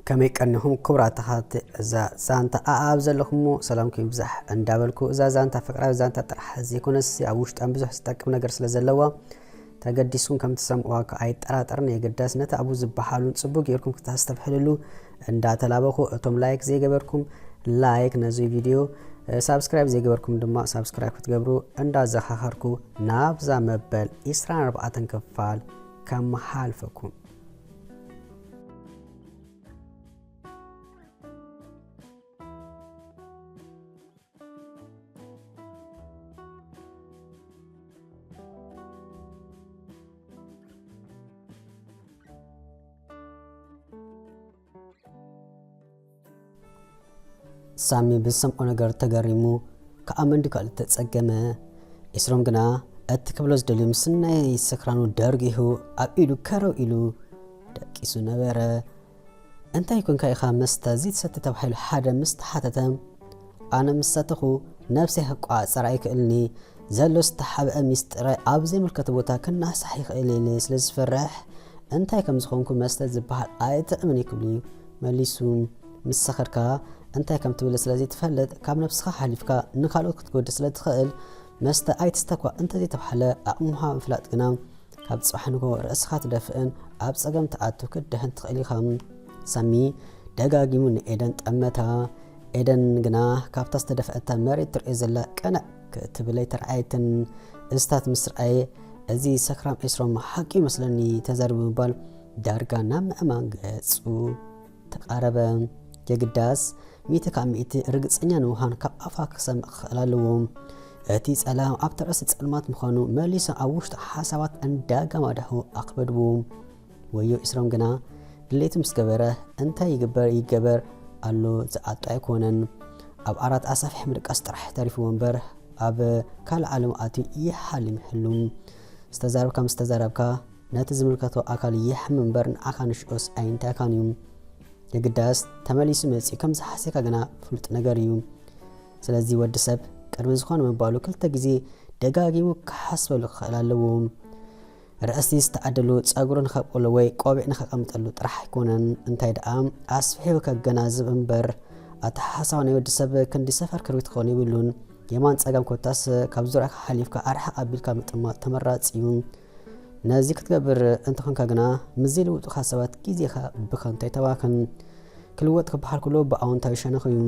ከመይ ቀኒኹም ክቡራት ተኸታተልቲ እዛ ዛንታ ኣኣብ ዘለኹሞ ሰላምኩም ይብዛሕ እንዳበልኩ እዛ ዛንታ ፍቅራዊ ዛንታ ጥራሕ ዘይኮነስ ኣብ ውሽጣን ብዙሕ ዝጠቅም ነገር ስለ ዘለዋ ተገዲስኩም ከም ትሰምዕዋ ከኣ ኣይጠራጠርን የግዳስ ነቲ ኣብኡ ዝበሃሉን ጽቡቅ ጌርኩም ክተስተብሕልሉ እንዳ ተላበኹ እቶም ላይክ ዘይገበርኩም ላይክ ነዚ ቪድዮ ሳብስክራይብ ዘይገበርኩም ድማ ሳብስክራይብ ክትገብሩ እንዳዘኻኸርኩ ናብዛ መበል 24 ክፋል ከመሓልፈኩም ሳሚ ብዝሰምዖ ነገር ተገሪሙ ከዓ መንድጋል ተጸገመ ኢስሮም ግና እቲ ክብሎ ዝደልዩ ምስ ናይ ስክራኑ ደርጊሁ ኣብ ኢዱ ከረው ኢሉ ደቂሱ ነበረ እንታይ ኮንካ ኢኻ መስተ ዝይትሰቲ ተባሂሉ ሓደ ምስ ተሓተተ፣ ኣነ ምስ ሰተኹ ነብሰይ ክቆፃፀር ኣይክእልን'የ፣ ዘሎ ዝተሓብኣ ሚስጢረይ ኣብ ዘይምልከቶ ቦታ ክናሕሳሕ ይኽእል'የ ኢለ ስለ ዝፈርሕ እንታይ ከም ዝኾንኩ መስተ ዝበሃል ኣይጥዕምን'ዩ ክብል'ዩ መሊሱ። ምስ ሰኸርካ እንታይ ከም ትብል ስለ ዘይትፈልጥ ካብ ነብስኻ ሓሊፍካ ንኻልኦት ክትጎድእ ስለ ትኽእል መስተ ኣይትስተ'ኳ እንተዘይተባህለ ኣቕምኻ ምፍላጥ ግና ካብ ጽባሕ ንግሆ ርእስኻ ትደፍእን ኣብ ጸገም ትኣቱ ክትድሕን ትኽእል ኢኻ። ሳሚ ደጋጊሙ ንኤደን ጠመታ። ኤደን ግና ካብታ ዝተደፍኣታ መሬት ትርእዮ ዘላ ቅንዕ ክትብል ኣይተርኣየትን። እስታት ምስ ረኣየ እዚ ሰክራም ኤስሮም ሓቂ ይመስለኒ ተዛሪቡ ብምባል ዳርጋ ናብ ምእማን ገጹ ተቃረበ የግዳስ ሚእቲ ካብ ሚእቲ ርግጸኛ ንምዃን ካብ ኣፋ ክሰምዕ ክኽእል ኣለዎ። እቲ ጸላም ኣብ ትዕስ ጸልማት ምዃኑ መሊሶ ኣብ ውሽጡ ሓሳባት እንዳጋማዳሁ ኣኽበድዎ። ወዮ ኢስሮም ግና ድሌቱ ምስ ገበረ እንታይ ይግበር ይገበር ኣሎ ዝዓጦ ኣይኮነን። ኣብ ኣራት ኣሳፊሕ ምድቃስ ጥራሕ ተሪፍዎ እምበር ኣብ ካልእ ዓለም ኣትዩ ይሓልም ይህሉ። ዝተዛረብካ ምስ ተዛረብካ ነቲ ዝምልከቶ ኣካል የሕም እምበር ንዓካ ንሽኦስ ኣይንታይካን እዩ የግዳስ ተመሊሱ መጺኡ ከም ዝሓሰካ ግና ፍሉጥ ነገር እዩ ስለዚ ወዲ ሰብ ቅድሚ ዝኾነ ምባሉ ክልተ ግዜ ደጋጊሙ ክሓስበሉ ክኽእል ኣለዎ ርእሲ ዝተኣደሉ ጸጉሩ ንኸብቅሎ ወይ ቆቢዕ ንኸቐምጠሉ ጥራሕ ኣይኮነን እንታይ ደኣ ኣስፊሑ ከገናዝብ እምበር ኣተሓሳብ ናይ ወዲ ሰብ ክንዲ ሰፈር ክርቢት ክኾኑ ይብሉን የማን ጸጋም ኮታስ ካብ ዙርያካ ሓሊፍካ ኣርሓቕ ኣቢልካ ምጥማት ተመራጺ እዩ ነዚ ክትገብር እንተኾንካ ግና ምስ ዘይልውጡኻ ሰባት ግዜኻ ብከንቱ ኣይተባኽን። ክልወጥ ክበሃል ከሎ ብኣወንታዊ ሸነኽ እዩ።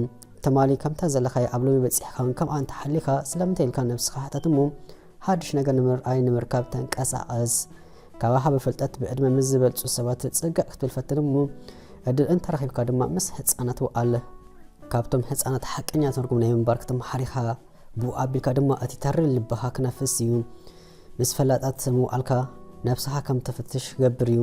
ትማሊ ከምታ ዘለኻያ ኣብ ሎሚ በጺሕካን ከምኣ እንተሓሊኻ ስለምንታይ ኢልካ ነብስኻ ሕተት እሞ ሓድሽ ነገር ንምርኣይ ንምርካብ ተንቀሳቐስ። ካባኻ ብፍልጠት ብዕድመ ምስ ዝበልጹ ሰባት ጽግዕ ክትብል ፈትን እሞ ዕድል እንተረኺብካ ድማ ምስ ህጻናት ውዓል። ካብቶም ህጻናት ሓቀኛ ትርጉም ናይ ምንባር ክትመሓር ኢኻ። ብኡ ኣቢልካ ድማ እቲ ተሪር ልብኻ ክነፍስ እዩ። ምስ ፈላጣት ምውዓልካ ነብስኻ ከም ተፍትሽ ክገብር እዩ፣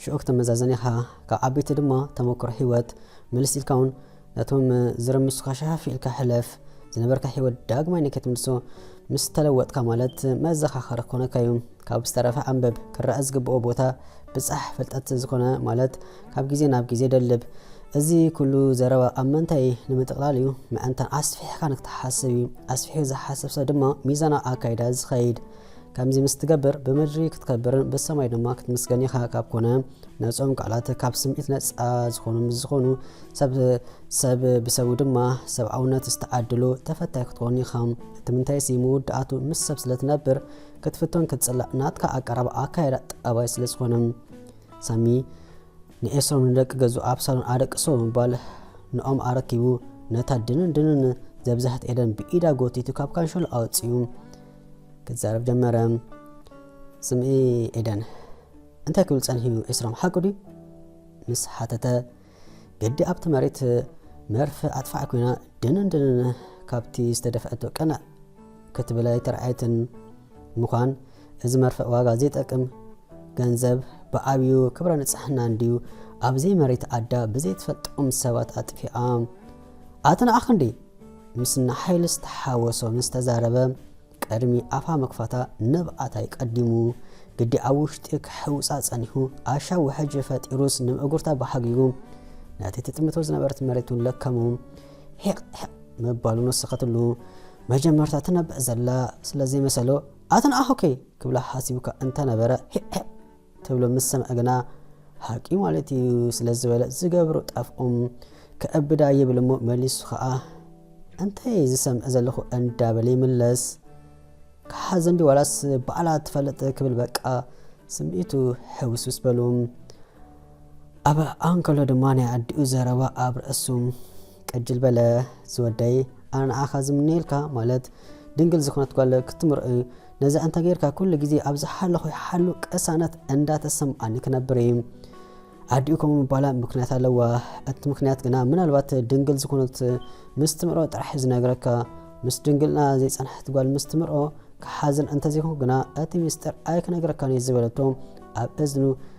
ሽዑ ክተመዛዘን ኢኻ፣ ካብ ዓበይቲ ድማ ተመኩሮ ሂወት ምልስ ኢልካ ውን ነቶም ዝርምሱኻ ሸፈፍ ኢልካ ሕለፍ፣ ዝነበርካ ሂወት ዳግማይ ንከይትምልሶ ምስ ተለወጥካ ማለት መዘኻኸሪ ክኾነካ እዩ፣ ካብ ዝተረፈ ኣንብብ፣ ክረኣ ዝግበኦ ቦታ ብጻሕ፣ ፍልጠት ዝኾነ ማለት ካብ ግዜ ናብ ግዜ ደልብ። እዚ ኩሉ ዘረባ ኣብ ምንታይ እዩ? ንምጥቕላል እዩ። ምእንታን ኣስፊሕካ ንክትሓስብ እዩ። ኣስፊሑ ዝሓስብ ሰብ ድማ ሚዛናዊ ኣካይዳ እዩ ዝኸይድ። ከምዚ ምስ ትገብር ብምድሪ ክትከብርን ብሰማይ ድማ ክትምስገን ኢኻ ካብ ኮነ ነጾም ቃላት ካብ ስምዒት ነጻ ዝኾኑ ምስ ዝኾኑ ሰብ ሰብ ብሰቡ ድማ ሰብኣውነት ዝተዓድሉ ተፈታይ ክትኮን ኢኻ። እቲ ምንታይሲ መወዳእቱ ምስ ሰብ ስለ ትነብር ክትፍቶን ክትጽላእ ናትካ ኣቀራርባ ኣካይዳ ጠባይ ስለ ዝኾነ። ሳሚ ንኤስሮም ንደቂ ገዙ ኣብሳሎን ኣደቅሶ ብምባል ንኦም ኣረኪቡ ነታ ድንን ድንን ዘብዛሕት ኤደን ብኢዳ ጎቲቱ ካብ ካንሸሎ ኣወፅኡ ክዛረብ ጀመረ ስምዒ ኤደን እንታይ ክብል ፀንሕዩ ኤስሮም ሓቁ ድዩ ምስ ሓተተ ግዲ ኣብቲ መሬት መርፍ ኣጥፋዕ ኮይና ድንን ድንን ካብቲ ዝተደፍዐቶ ቀና ክትብል ኣይተርኣየትን። ምዃን እዚ መርፍእ ዋጋ ዘይጠቅም ገንዘብ ብዓብዩ ክብረ ንጽሕና እንድዩ ኣብ ዘይመሬት ኣዳ ብዘይትፈልጦም ሰባት ኣጥፊኣ ኣቲ ንዓኽ እንዲ ምስና ሓይሊ ዝተሓወሶ ምስ ተዛረበ ቀድሚ ኣፋ ምክፋታ ንብዓታይ ቀዲሙ ግዲ ኣብ ውሽጢ ክሕውጻ ጸኒሑ ኣሻ ውሕጅ ፈጢሩስ ንምእጉርታ ብሓጊጉ ነቲ ትጥምቶ ዝነበረት መሬቱን ለከሙ ሒቕ ሒቕ ምባሉ ንስኸትሉ መጀመርታ ትነብዕ ዘላ ስለ ዘይመሰሎ ኣተን ኣሆከይ ክብላ ሓሲቡካ እንተነበረ ሒቕ ሒቕ ትብሎ ምስ ሰምዐ ግና ሓቂዩ ማለት እዩ ስለ ዝበለ ዝገብሮ ጠፍኦም ከእብዳ ይብል እሞ መሊሱ ኸኣ እንታይ እየ ዝሰምዕ ዘለኹ እንዳበለ ይምለስ ክሓዘን ዲ ዋላስ ባዕላ ትፈልጥ ክብል በቃ ስምዒቱ ሕውስውስ በሉ ኣብ ኣንከሎ ድማ ናይ ኣዲኡ ዘረባ ኣብ ርእሱ ቅጅል በለ ዝወደይ ኣነ ንዓኻ ዝምነየልካ ማለት ድንግል ዝኾነት ጓል ክትምርእ ነዚ ኣንተ ጌርካ ኩሉ ግዜ ኣብ ዝሓለኹ ይሓሉ ቅሳነት እንዳተሰምዓኒ ክነብር እየ። ኣዲኡ ከምኡ ምባላ ምክንያት ኣለዋ። እቲ ምክንያት ግና ምናልባት ድንግል ዝኾነት ምስ ትምርኦ ጥራሕ ዝነግረካ ምስ ድንግልና ዘይጸንሐት ጓል ምስ ትምርኦ ክሓዝን እንተዘይኮንኩ ግና እቲ ምስጢር ኣይክነግረካን እዩ ዝበለቶ ኣብ እዝኑ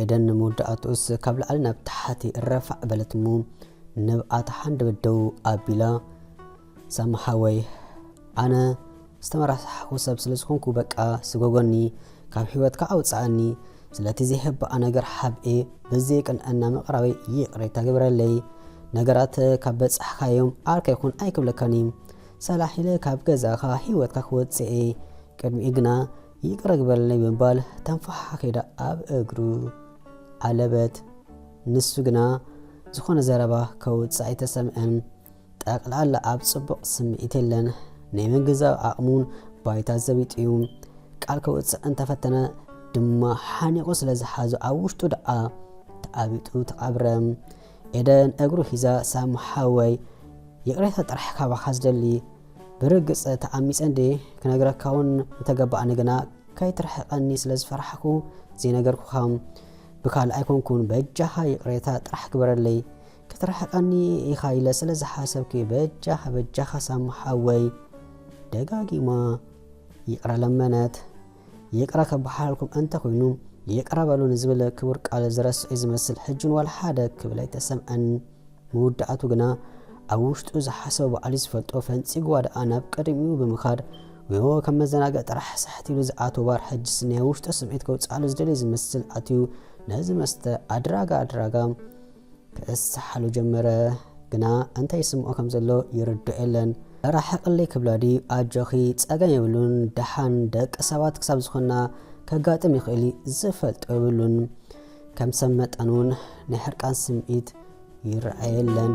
ኤደን ንመወዳእትኡስ ካብ ላዕሊ ናብ ታሕቲ ረፋዕ በለት እሞ ንብኣ ተሓንደበት ደው ኣቢላ ሳማ ሓወይ ኣነ ዝተመራሳሕኹ ሰብ ስለ ዝኾንኩ በቃ ስጎጎኒ ካብ ህይወትካ ኣውፅኣኒ ስለቲ ዘይሕባኣ ነገር ሓብኤ ብዘይ ቅንዕና ምቕራበይ ይቕሬታ ግብረለይ ነገራት ካብ በፃሕካዮም ዓርካ ይኹን ኣይክብለካን እዩ ሰላሕ ኢለ ካብ ገዛኻ ህይወትካ ክወፅእ እየ ቅድሚኡ ግና ይቅረ ግበረልኒ ብምባል ተንፈሓኺዳ ኣብ እግሩ ዓለበት። ንሱ ግና ዝኾነ ዘረባ ከውጽእ ኣይተሰምዐን። ጠቅላላ ኣብ ጽቡቕ ስምዒት የለን። ናይ ምግንዛብ ዓቕሙን ባይታ ዘቢጡ'ዩ። ቃል ከውጽእ እንተፈተነ ድማ ሓኒቑ ስለዝሓዞ ኣብ ውሽጡ ደኣ ተዓቢጡ ተቐብረ። ኤደን እግሩ ሒዛ ሳም ሓወይ ይቅሬታ ጥራሕ ካባካ ዝደሊ ብርግጽ ተዓሚጸ እንድየ ክነግረካ ውን ምተገባኣኒ ግና ከይትርሕቀኒ ስለ ዝፈራሕኩ ዘይነገርኩካ ብካልእ ኣይኮንኩን በጃካ ይቅሬታ ጥራሕ ግበረለይ ክትርሕቀኒ ኢካ ኢለ ስለ ዝሓሰብኩ በጃካ በጃካ ሳም ሓወይ ደጋጊማ ይቅረ ለመነት። ይቅረ ከበሓላልኩም ኣንተ ኮይኑ ይቅረ በሉ ንዝብል ክቡር ቃል ዝረስዔ ዝመስል ሕጅውን ዋላ ሓደ ክብል ኣይተሰምዐን ምውዳኣቱ ግና ኣብ ውሽጡ ዝሓሰቦ ባዕሉ ዝፈልጦ ፈንጺግዋ ደኣ ናብ ቀድሚኡ ብምኻድ ወዮ ከም መዘናግዒ ጥራሕ ሳሕት ኢሉ ዝኣትዎ ባር ሕጅስ ናይ ውሽጡ ስምዒት ከውጽኣሉ ዝደልይ ዝመስል ኣትዩ ነዚ መስተ ኣድራጋ ኣድራጋ ክእሰሓሉ ጀመረ ግና እንታይ ይስምዖ ከም ዘሎ ይርድኦ የለን ራሕቅለይ ክብላ ድዩ ኣጆኺ ጸገም የብሉን ደሓን ደቂ ሰባት ክሳብ ዝኾንና ከጋጥም ይኽእል እዩ ዝፈልጦ የብሉን ከም ሰብ መጠን እውን ናይ ሕርቃን ስምዒት ይረኣየለን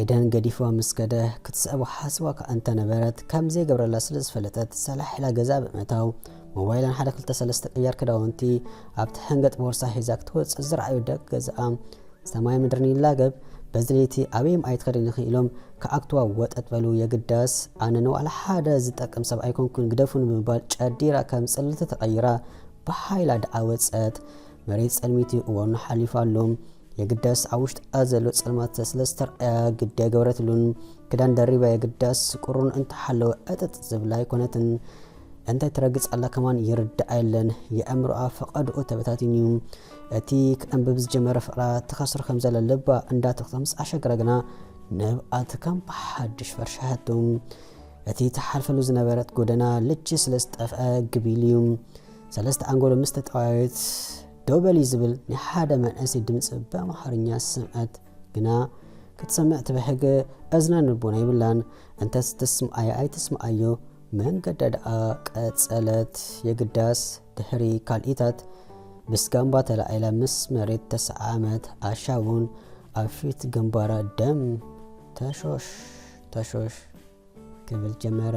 ኤደን ገዲፍዋ ምስ ከደ ክትስዕቦ ሓሲባ እኳ እንተ ነበረት፣ ከም ዘይገብረላ ስለ ዝፈለጠት፣ ሰላሕ ኢላ ገዛኣ ብምእታው፣ ሞባይላን ሓደ ክልተ ሰለስተ ቅያር ክዳውንቲ ኣብቲ ሕንገጥ ቦርሳ ሒዛ ክትወጽእ ዝረኣዩ ደቂ ገዛኣ፣ ሰማይ ምድርን ይላገብ፣ በዚ ለይቲ ኣበይም ኣይትኸድን ኢኺ ኢሎም ክዓግቱዋ ወጠጥ በሉ። የግዳስ ኣነ ንዋላ ሓደ ዝጠቅም ሰብ ኣይኮንኩን ግደፉኒ ብምባል ጨዲራ ከም ጽልልቲ ተቐይራ ብሓይላ ደኣ ወጸት። መሬት ጸልሚቱ እዋኑ ሓሊፉ ኣሎ። የግዳስ ኣብ ውሽጣ ዘሎ ጸልማት ስለ ዝተርኣያ ግዲ ኣይገበረትሉን። ክዳን ደሪባ የግዳስ ቁሩን እንተሓለወ ዕጥጥ ዝብላ ኣይኮነትን። እንታይ ትረግጽ ኣላ ከማን ይርድኣ የለን። የእምሮኣ ፈቐድኡ ተበታቲኑ እዩ። እቲ ክዕንብብ ዝጀመረ ፍቕራ ትኸስር ከም ዘለ ልባ እንዳተኽተ ምስ ኣሸገረ ግና ንብኣት ከም ብሓድሽ ፈርሻሓቱ። እቲ ትሓልፈሉ ዝነበረት ጎደና ልቺ ስለ ዝጠፍአ ግቢል እዩ። ሰለስተ ኣንጎሎ ምስ ተጠዋየት ደው በሊ ዝብል ናይ ሓደ መንእሰይ ድምጺ ብኣምሓርኛ ዝሰምዐት ግና ክትሰምዕ ትብሕግ እዝነን ልቦና የብላን። እንተስ ትስምዓዮ ኣይትስምዓዮ መንገዳ ደኣ ቀጸለት። የግዳስ ድሕሪ ካልኢታት ብስጋምባ ተላዒላ ምስ መሬት ተሰዓዓመት። ኣሻ እውን ኣብ ፊት ግንባራ ደም ተሾሽ ተሾሽ ክብል ጀመረ።